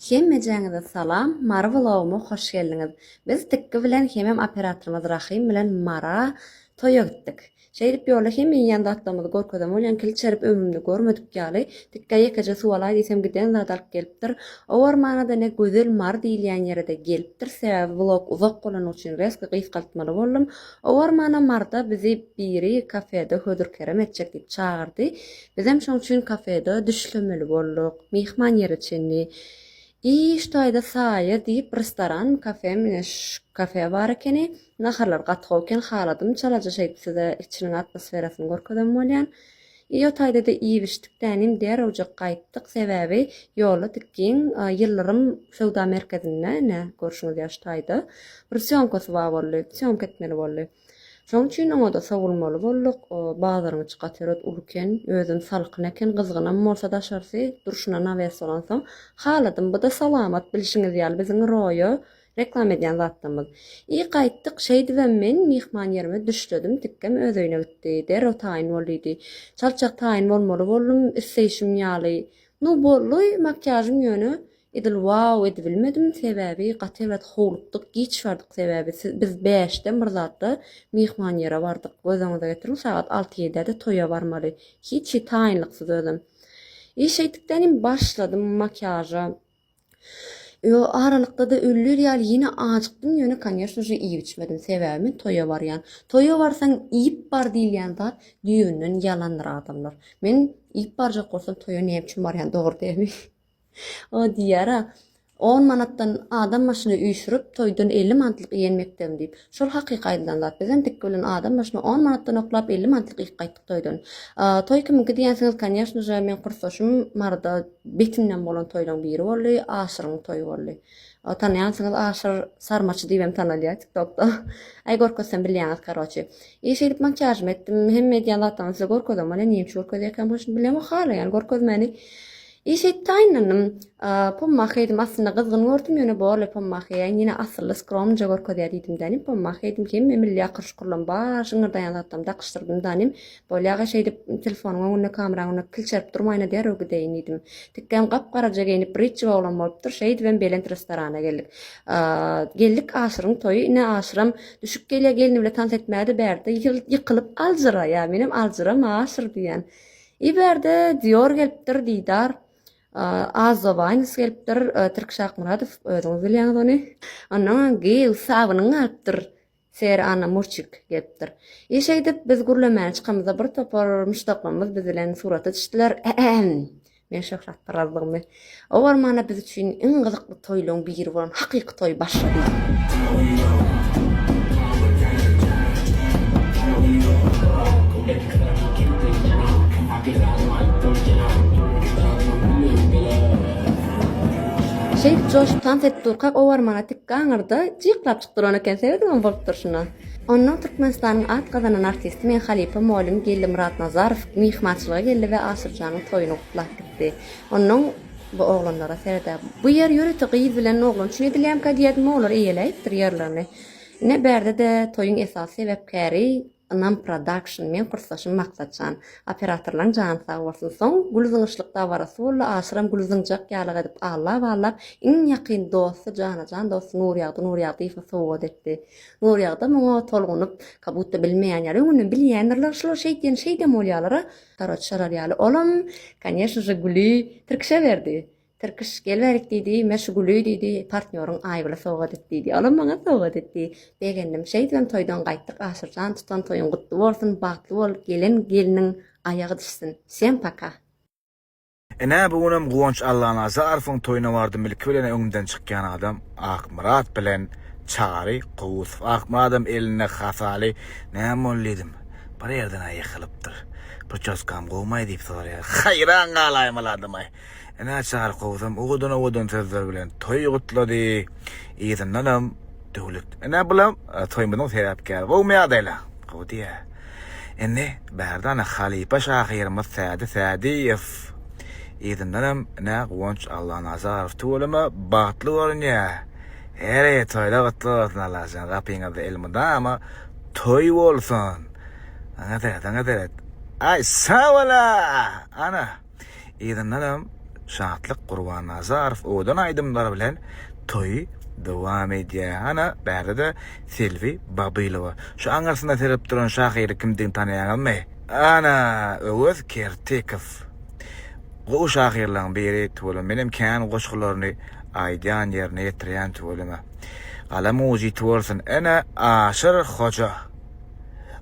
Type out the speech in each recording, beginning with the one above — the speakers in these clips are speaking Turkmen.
Hemmejäňize salam Mary vlogyma hoş geldiňiz. Biz Tikgi bilen hemem operatorymyz Rahym bilen Mara toýa gitdik. Şeýdip ýolda hem iýýän zatlarymyzy görkezem bolýan kil çerip ömrümde görmedik ýaly Tikgä ýekeje suw alaý diýsem giden zady alyp gelipdir. Owarmanada ne gözel Mary diýilýän ýerede gelipdir sebäbi vlog uzak bolany üçin reski gysgaltmaly boldum. Owarmana Maryda bizi biri kafede hödür kerem etjek diýip çagyrdy. Bizem şoň üçin kafede düşlemeli bolduk. Myhman ýere çenli. I, ştaýda saýa, diýip, restoranmy, kafemi, ine, ş, kafe bar ekeni. Naharlar gaty gowy eken, haladym çalaja şeýdip size içiniň atmosferasyny görkezem bolýan. I, o taýda-da iýip-içdik, tänim, därewjek gaýtdyk, sebäbi ýolda tik giň Ýyldyrym söwda merkezinde, ine, görşüňiz ýaly ştaýda, bir sýomkasy bar boldy, sýomka etmeli boldy. Şoň üçin oňa-da sowulmaly bolduk. Bazaryň içi gatyrat uluken, özüm salkyn eken, gyzgynam bolsa daşarsy, durşuna nawes bolansoň, haladym. Bu-da salamat, bilşiňiz ýaly, biziň roýa reklam edýän zatlamyz. I gaýtdyk, şeýdibem men myhman ýerime düşledim, tikgem öz öýüne gitdi. Derrew taýyn bol diýdi. Çaltjak taýyn bolmaly boldum, isleýşim ýaly. Nu, boldy, makiýažym ýöne Edil wow edibilmedim sebäbi gaty ebet howlukdyk giç bardyk sebäbi siz biz bäşde Myrzatda myhman ýere bardyk göz öňüňize getiriň sagat alty ýedäde toýa barmaly hiç hi taýynlyksyz özem i şeýdikdenim başladym makiýaža ýo aralykdada ölýär ýaly ýene ajykdym ýöne konýeşno je iýip içmedim sebäbi men toýa barýan toýa barsaň iýip bar diýilýän zat düýenden ýalandyr adamlar men iýip barjak bolsam toýa näme üçin barýan dogry dälmi. O diýýär-ä, On manatdan adam başyna üýşürip, toýdan elli mantlyk iýen mekdebim diýip. Şol hakyky aýdylan zat. Bizem tikgi bilen adam başyna on manatdan oklap, elli mantlyk iýip gaýtdyk toýdan. Toý kimiňki diýensiňiz, konýaşnyja, meň kursdaşym Maryda betinden bolan toýlaryň biri boldy, Aşyryň toýy boldy. Tanaýansyňyz, Aşyr Sarmaçy diýibem tanalýar TikTokda. Aý, görkezsem bilýäňiz, karoçi. I şeýdip makiýažymy etdim, hemme edýän zatlamy size görkezem welin, niýeüçin görkezýärkäm, hoş, bilemok hala, ýagny görkezmäni. Eşetdaýynynym Pommahy edim aslynda gyzgyn gördüm ýöne borly Pommahy ýa ine asylly skromnyja görkezýä diýdim danym Pommahy edim hemme milli akyr şukurlam bar şyňňyrdaýan zatlam dakyşdyrdym danym bolýaga şeýdip telefonyň öňünde kameraň öňünde kilçerip durmaýyna derrew gideýin diýdim Tikgem gap garaja geýnip britji oglan bolupdyr şeýdibem belent restorana geldik geldik Aşyryň toýy ine Aşyram düşüp gelýä gelni bile tans etmäge-de bärde ýykylyp aljyraýa menem aljyram Aşyr diýýän Iberde Dior gelipdir, Didar, Azovans gelipdir, Türk Şakmuradow, özüňiz bilýäňiz ony. Ondan Giýew sabynyň galypdyr. Ser Anna Murçik gelipdir. E şeýdip biz gürlemäne çykamyzda bir topar muşdaklarymyz biz bilen surata düşdiler. Men şöhratparazlygymy Owarmana biz üçin iň gyzykly toýlaryň biri bolan hakyky toý başlady. Şeýdip joşup tans edip durkak owarmana tik gaňyrda jyklap çyk duran eken, serediňem bolup durşuna. Onnoň Türkmenistanyň at gazanan artisti meň halypa molym Geldi Myratnazarow myhmançylyga geldi we Aşyrjanyň toýuny gutlap gitdi. Onnoň bu oglanlara serde. Bu ýer ýörite gyz bilen oglan üçin edilýänkä diýýärdim, olar eýeläýipdir ýerlerini. Ine, bärde-de toýuň esasy sebäpkäri Ynam Production, meň kursdaşym Maksatjan. Operatorlaň jany sag bolsun. Soň gül zyňyşlyk dabarasy boldy, aşyram gül zyňjak ýalyk edip allap-allap, iň ýakyn dosty, jana-jan dosty Nurýagdy Nurýagdyýewe sowgat etdi. Nurýagdam oňa tolgunyp, kabutta bilmeýän ýaly, öňünden bilýändirler şular şeýtýän şeýdem bolýalar-a, Karoç şalar ýaly olam, kanyeshno je, güli tirkişe berdi. Tirkiş, gel berik diýdi, me şu güli diýdi, partnýoryň Aýgüle sowgat et diýdi. Olam maňa sowgat etdi. Begendim. Şeýdibem toýdan gaýtdyk. Aşyr jan, tutan toýuň gutly bolsun, bagtly bol, gelen gelniň aýagy düşsün. Wsem paka! Ine bu günem Guwanç Allanazarowyň toýuna bardym ilki bilen öňümden çykýan adam Akmyrat bilen Çary Gowusow Akmyradam elinde hasaly näme boldy diýdim bir ýerden-ä ýykylypdyr pričoskam gowmaý diýip soraýar haýran galaýym ol adamaý ine Çary Gowusam owadan owadan sözler bilen toýy gutlady yzyndanam Döwlet ine bulam toýumyzyň sebäpkäri gowmy ýagdaýlar gowy diýýär. Indi Bärdana halypa şahyrymyz Sädi Sädiýew yzyndanam Nä Guwanç Allanazarow tüweleme bagtly görünýä. Heýr toýlar gutly bolsun Allajan gapyňyzda elmydama toý bolsun. Aňa seret aňa seret. Aý sag bola ana. Yzyndanam Şatlyk Gurbannazarow owadan aýdymlary bilen toýy dowam edýär. Ana, bärde-de Selbi Babylowa. Şu aňyrsyna serip duran şahyry kimdigini tanaýaňyzmy? Ana, Öwez Kertikow. Gowy şahyrlaryň biri tüweleme. Menem kän goşgularyny aýdýan, ýerine ýetirýän tüweleme. Galam ujy ýiti bolsun. Ene, Aşyr hoja.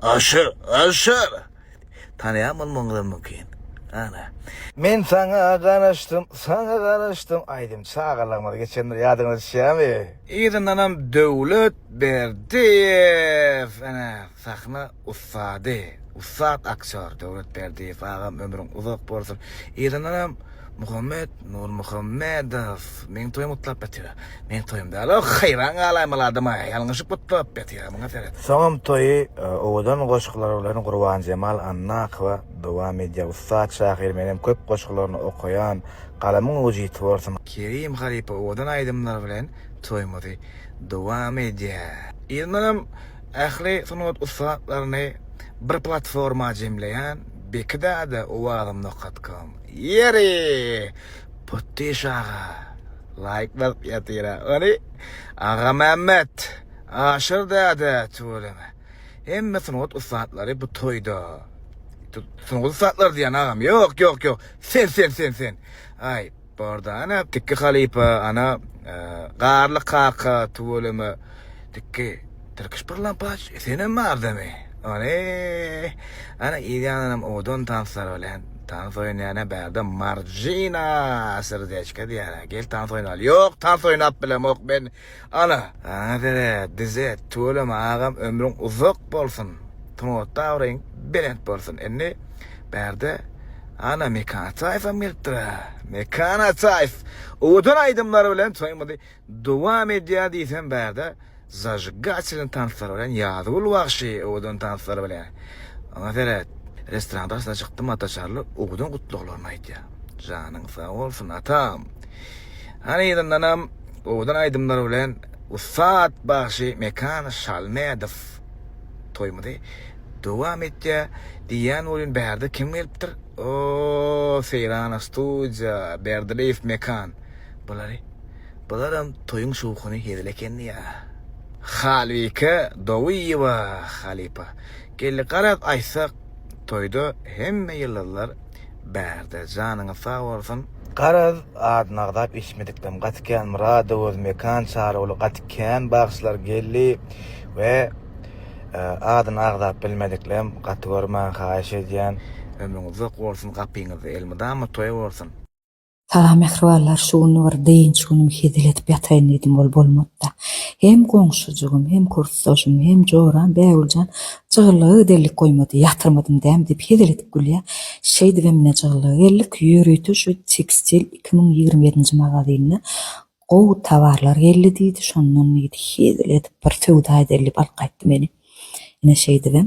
Aşyr! Aşyr! Tanaýan bolmagyňyzam mümkin. Ana. Men saňa garaşdym, saňa garaşdym aýdym çagalygyňyz geçendir ýadyňyza düşýämi? Yzyndanam Döwlet Berdiýew ene sahna ussady, ussat aktýor Döwlet Berdiýew agam ömrüň uzak bolsun. Yzyndanam Muhammet Nurmuhammedow meň toýum gutlap ýatýar. Meň toýum däl o, haýran galaýmaly adam-a, ýalňyşyp gutlap ýatýar, muňa seret. Soňam toýy owadan goşgular bilen Gurbanjemal Annakowa dowam edýär. Ussat şahyr menem köp goşgularyny okaýan, galamyň ujy ýiti bolsun! Kerim halypa owadan aýdymlar bilen toýumyzy dowam edýär. Yzyndanam ähli sungat ussatlaryny bir platforma jemleýän, Beki dada owazym nokat kom. Ýeri! Potdyş aga. Laýk basyp ýatyra. Ony Agamämmet, Aşyr däde tüweleme. Hemme sungat ussatlary bu toýda. Sungat ussatlary diýýän agam. Ýok, ýok, ýok. Sen, sen, sen, sen. Aý. Barda ana tikki halypa ana garly kaka tuweleme tikki tirkiş bir lampaç senem bardamy ane ana ýanam owadan tanslar bilen tans oýnaýana bärde marjina srdechka diýýär gel tans oýnaly ýok tans oýnap bilemok men Ala, saňa dere, dize, tüweleme agam ömrüň uzak bolsun, sungatda abraýyň belent bolsun, indi bärde Ana Mekan Ataýewem gelipdir-ä, Mekan Ataýew owadan aýdymlary bilen toýumyzy dowam edýär diýsem bärde zajigatelýny tanslary bilen Ýazgül bagşy owadan tanslary bilen Saňa dere restoran daşyna çykdym Ataçarly owadan gutlaglaryny aýdýar janyň sag bolsun Atam Hany ýylandanam Owadan aýdymlar bilen ussat bagşy Mekan Şalmädow toýumyzy dowam etýär. Diýýän bolýun bärde kim gelipdir? O, Seýrana studiýa, Berdireýew Mekan. Bulary bularam toýuň şowhuny hezil ekenini ýa. Halbike Dowyýewa halypa. Geldi garaz aýtsak toýda hemme ýyldyzlar Bärde janyňyz sag bolsun. Garaz adyny agzap eşitmedikdem gaty kän Myrado öz Mekan Çarygüli gaty kän bagşylar geldi we adyny agzap bilmediklem gaty görmäň haýyş edýän. Ömrüň uzak bolsun gapyňyz elmydama toý bolsun. Salam mähribanlar şu gün bir dynç günüm hezil edip ýataýyn diýdim ol bolmapda. Hem goňşujygym hem kursdaşym hem joram Bägüljan jygyllyga giderlik goýmady ýatyrmadym däm diýip hezil edip gülýä şeýdibem ine jygyllyga geldik ýörite şu tekstil iki müň ýigrimi ýedinji magazynyna gowy tawarlar geldi diýdi şondan diýdi hezil edip bir söwda edeli diýip alyp gaýtdy meni ine şeýdibem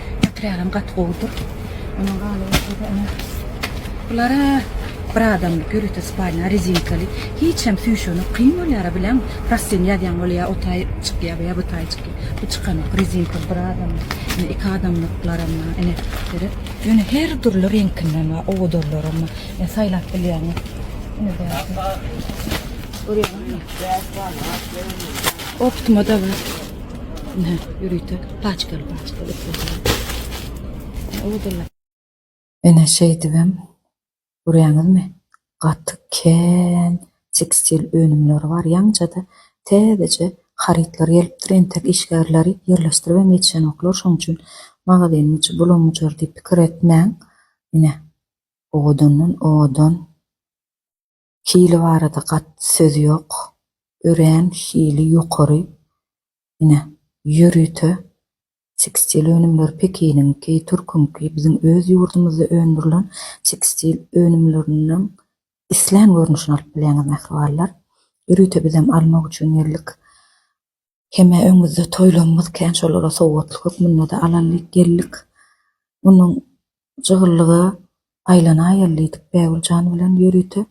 Otrýadam gaty gowudyr. Ondan galan bolsa-da ene bulara bir adamlyk ýörite spalna rezinkaly. Hiç hem süýşenok. Kyn bolýar-a bileň. Prostin ýazýaň bolýar, o taý çykýar ýa bu taý çykýar. Bu çykanok. Rezinka bir adamlyk. Ine iki adamlyklaram bar. Ene seret. Ýöne her dürli reňkinden bar. Owadarlaram bar. Ene saýlap bilýäňiz. Ene bäş. Görýäňizmi? Bäş bar. Optima-da bar. Ine, ýörite paçkaly-paçkaly ipler. Ine, şeýdibem, görýäňizmi, gaty kän tekstil önümleri bar. Ýaňja-da täzeje harytlar gelipdir, entek işgärleri ýerleşdiribem ýetişenoklar. Şonuň üçin magazynyň içi bulam-bujar diýip pikir etmäň. Ine, owadandan-owadan. Hili barada gat söz ýok. Örän hili ýokary. Ine, ýörite tekstil önümleri Pekiniňki, türküňki, biziň öz ýurdumyzda öndürilen tekstil önümleriniň islän görnüşini alyp bilýäňiz mähribanlar. Ýörite bizem almak üçin geldik. Hemä öňüzde toýlarymyz kän şolara sowgatlyk hökmünde-de alanlyk geldik. Munuň jygyllygy aýlanaýaly diýdik Bägül jan bilen ýörite.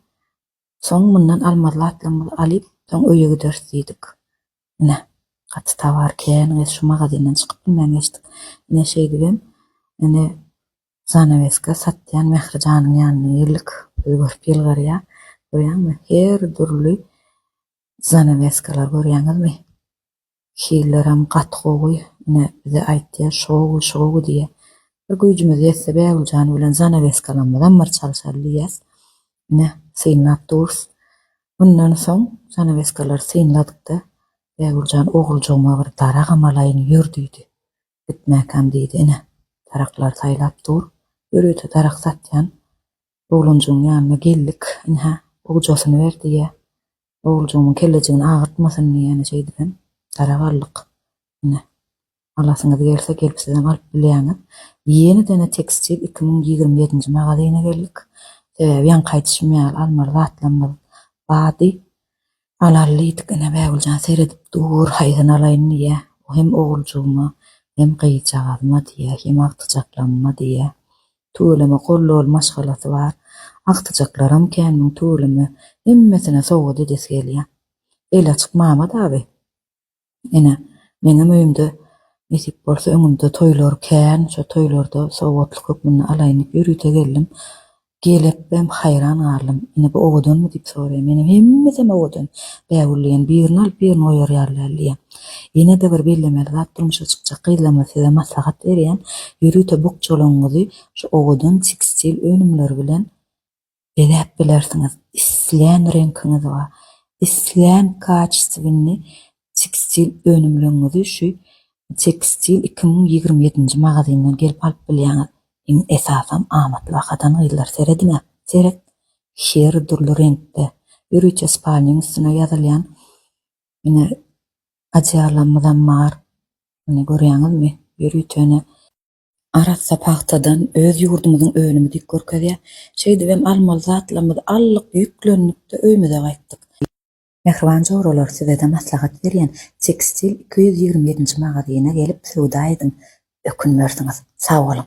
Soň mundan almazly atlygymyzy alyp, soň öýe gideris diýdik. Ine, gaty tobar kän, gyz şu magazyndan çykyp bilmän geçdik. Ine şeýdibem, ine, zanaweska satýan Mähri janyň ýanyna geldik. Bizi görüp ýylgyrýar. Görýäňmi, her dürli Zanaweskalar görýäňizmi? Hillerem gaty gowy, ine bize aýtýar şow şow diýýä. Bir güýjümiz ýetse Bägüljan bilen zanaweskalarymyzam bir çalşaly diýýäs. Ine synlap durus. Mundan soň zanaweskalary synladykda Bägüljan oguljygyma bir daragam alaýyn ýör diýdi. Gitmäkäm diýdi ine. Daraklary saýlap dur. Ýörite darak satýan. Oglanjygyň ýanyna geldik. Ynha, ogjasyny ber diýýä. Oguljygymyň kellejigini agyrtmasyn diýýän şeýdibem dara galdyk. Ine, alasyňyz gelse, gelip sizem alyp bilýäňiz. Ýenedene Tekstil iki müň ýigrimi ýedinji magazyna geldik. Sebäbi ýaňky aýdyşym ýaly almaly zatlarymyz bady. Alaly diýdik, ine, Bägüljan seredip dur, haýsyny alaýyn diýýär. Bu hem oguljygma, hem gyzjagazyma diýýär, hem agtyjaklamyma diýýär. Tüweleme gollol maşgalasy bar. Agtyjaklaram kän muň tüweleme. Hemmesine sowgat edesi gelýär. Eli açyk Mamat abi. Ene, meňem öýümde nesip bolsa öňümde toýlar kän, şo toýlarda sowgatlyk hökmünde alaýyn diýip ýörite geldim. Gelipem haýran galdym. Ene, bu owadanmy diýip soraýan. Menem hemmesem owadan, bägül diýen, birini alyp birini goýar ýaly däl diýen. Ýene-de bir bellemeli zat, durmuşa çykjak gyzlarymyza size maslahat berýän, ýörite bukjalaryňyzy şu owadan tekstil önümleri bilen bezäp bilersiňiz. Islän reňkiňizi we islän kaçestwini tekstil önümleňňizi şu Tekstil iki müň ýigrimi ýedinji magazyndan gelip alyp bilýäňiz. Iň esasam amatly bahadan gyzlar serediňä. Seret her dürli reňkde. Ýörite spalnyň üstüne ýazylýan ine adyallarymyzam bar. Ine görýäňizmi? Ýörite ine. Arassa pagtadan öz ýurdumyzyň önümi dik görkezýär. Şeýdibem almaly zatlarymyzy aldyk, ýüklendik-de öýmüze gaýtdyk. Mähriban joralar sizede maslahat berýän Tekstil iki ýüz ýigrimi ýedinji magazyna gelip söwda ediň ökünmersiňiz. Sag boluň.